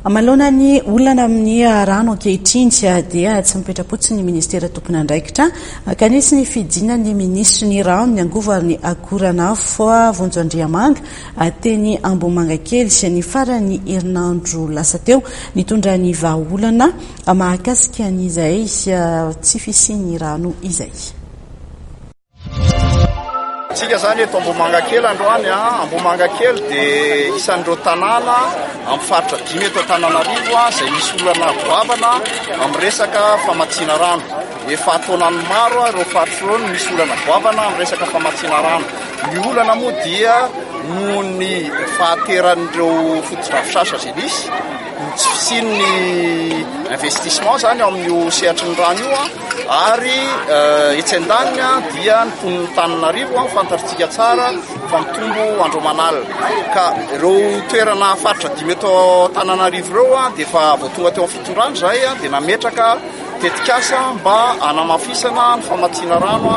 Manoloana ny olana amin'ny rano ankehitriny dia tsy mipetra-potsiny ny ministera tompon'andraikitra ka nisy ny fidina ny minisitry ny rano ny angovo ary ny akoranafo Vonjo Andriamanga teny Ambohimangakely ny faran'ny herinandro lasa teo nitondra ny vahaolana mahakasika an'izay tsy fisian'ny rano izay. Tsika zany eto Ambohimangakely androany a, ah. Ambohimangakely dia isan'ireo tanàna amin'ny faritra dimy eto Antananarivo ah, izay misy olana goavana amin'ny resaka famatsiana rano. Efa taonany maro ah, ireo faritra ireo no misy olana goavana amin'ny resaka famatsiana rano. Ny olana moa dia noho ny fahateran'ireo fotodrafitrasa izay misy, ny tsy fisian'ny investissement zany ao amin'io sehatry ny rano io a. Ary etsy an-daniny dia ny mponin'Antananarivo fantatritsika tsara fa mitombo andro aman'alina. Ka ireo toerana faritra dimy eto Antananarivo ireo dia efa vao tonga teo amin'ny fitondrana izahay dia nametraka tetikasa mba hanamafisana ny famatsiana rano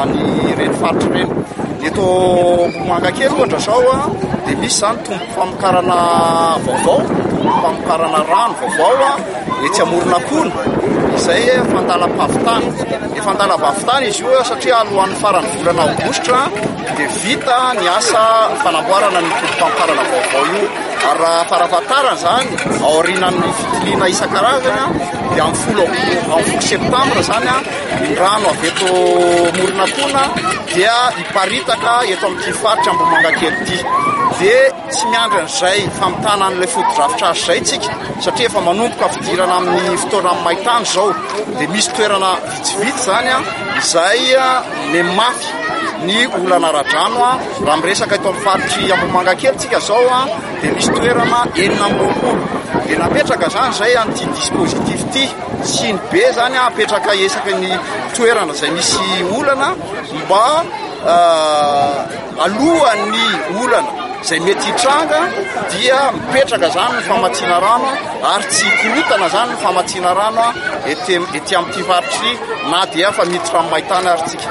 an'ireny faritra ireny. Ny eto Ambohimangakely ohatra izao dia misy izany tombom-pamokarana vaovao, tombom-pamokarana rano vaovao. etsy Amoronakona izay efa andalam-pavitana. Efa andalam-pavitana izy io satria alohan'ny faran'ny volana aogositra dia vita ny asa fanamboarana ny tobim-pamparana vaovao io. Ary raha farafatarana izany, aorianan'ny fitiliana isan-karazany dia amin'ny folo amin'ny folo septambra izany ny rano avy eto Moronakona dia hiparitaka eto amin'ity faritra Ambohimangakely ity. Dia Tsy miandry an'izay famitana an'ilay fotodrafitrasa izay isika satria efa manomboka fidirana amin'ny fotoana amin'ny main-tany izao dia misy toerana vitsivitsy izany an izay mafy ny olana ara-drano an raha miresaka eto amin'ny faritry Ambohimanga kely isika izao an dia misy toerana enina amby roapolo dia napetraka izany izay an'ity dispositif ity sy ny be izany an apetraka esaky ny toerana izay misy olana mba Alohan'ny olana izay mety hitranga dia mipetraka izany ny famatsiana rano ary tsy hikorotana izany ny famatsiana rano ety amin'ity faritr'ity na dia efa miditra amin'ny main-tany ary isika.